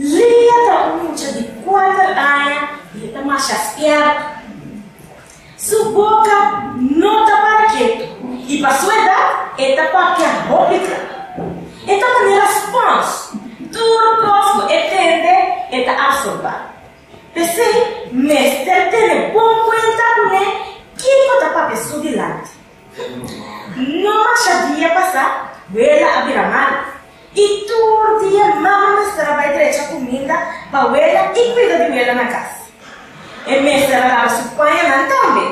Leah ta un mucha di kuater aña i e ta masha spièrto. Su boka no ta para ketu i pa su edat e ta papia hopi tra. E ta manera spons, tur kos ku e tende e ta absorbá. P'esei, mester tene bon kuenta kuné kin ku ta papia su dilanti. No masha dia pasá, Wela a bira mal, i tur dia Mama mester a bai drecha kuminda pa Wela i kuida di Wela na kas. E mester a laba su pañanan tambe.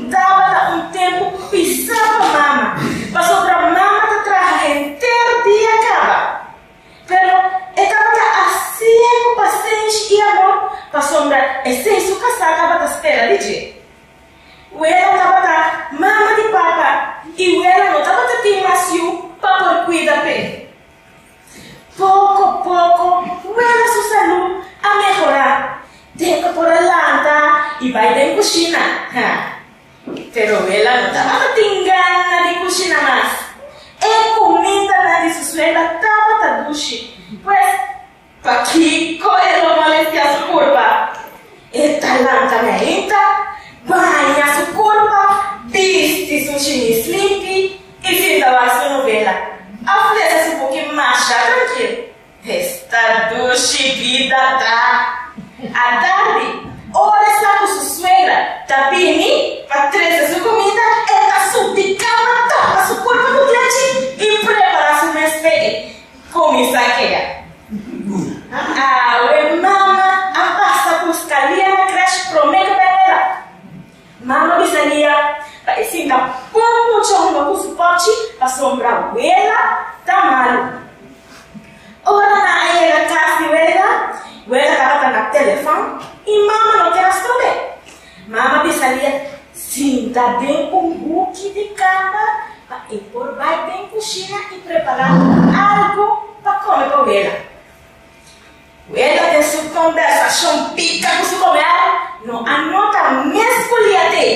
Tabata un tempu pisá pa Mama, pasobra Mama ta traha henter dia kaba. Pero e tabata hasi e ku pasenshi i amor, pasobra esei su kasá tabata spera di dje. Wela tabata mama di papa i wela no tabata tin mas yu pa por kuida p'e. Poko poko wela su salú a mehorá den ku por a lanta i bai den kushina. Pero ela no tabata tin gana di kushina mas. E kumindanan di su suegra tabata dushi, pues pakiko e lo molestia su kurpa? E ta lanka na inta, baña su kurpa, bisti su shimis limpi i finda wak su novela. A fresa su buki masha trankil. Esta dushi bida ta! Atardi, ora e sta ku su suegra ta bini pa trese su kumida, e ta subi kama, tapa su kurpa ku klechi i prepara su mes p'e kuminsá keda. Awe mama a pasa buska Lia na krèsh promé ku bebela. Mama bisa Lia pa e sinta pon mochongo cu su pochi pa sombra Wela ta malu. Ora nan a yega cas di Wela, Wela tabata na telefon y Mama no quier a strobe. Mama bisa Lia sinta den un huki di cama pa e por bay den cushina y prepara algo pa come pa Wela. Ella den su conversacion pica cu su comer, no a nota mes cu lia te.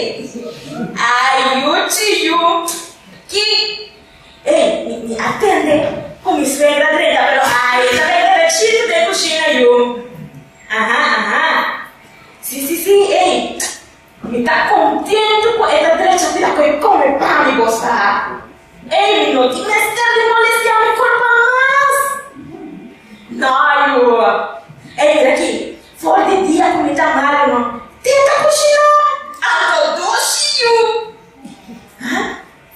Ay, yu chi yu, ki? Ey, mi, mi a tende cu mi suegra drenta, pero ay, e ta bay derechito den cushina, yu. Aha, aha. Si, si, si, ey. Mi ta kontentu ku e ta drecha fia ku e kome pan mi gosta. Amy no tin mester di molestia mi kurpa mas. No, Yua. Ey, mira aki, for di dia ku mi ta malu no tin ta kushiná. Anto dushi, Yu. Hah?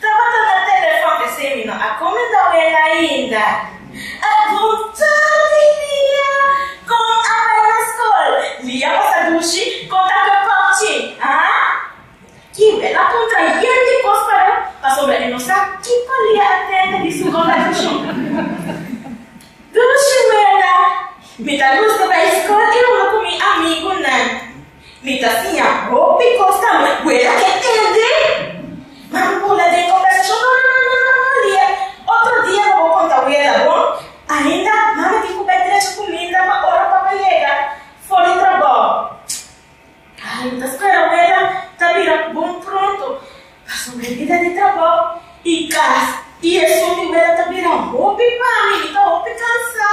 Tabata na telefòn esei no a kumindá wen ainda. A dun tur di dia kon a bai na skol. Mi a pasa dushi kon ta kue pòpchi. Aa. Ki wen a kontra yen di kos pa do pasobra e no sa ki palia a tende di su kon ta dushi. Dushi wenda. Mi ta gusta bai skol i hunga ku mi amigunan. Mi ta fia hopi cos ta mi abuela ke tende. Ma mi pula den conversacion, no, no, no, no, no, Lia, otro dia bo bo conta abuela bo. Ainda mami tin cu bay trae su cuminda pa ora papa yega for di trabao. Ay, mi ta spera abuela ta bira bon pronto, pasobra e bida di trabao y cas y esun mi abuela ta bira hopi pa mi, mi ta hopi cansa.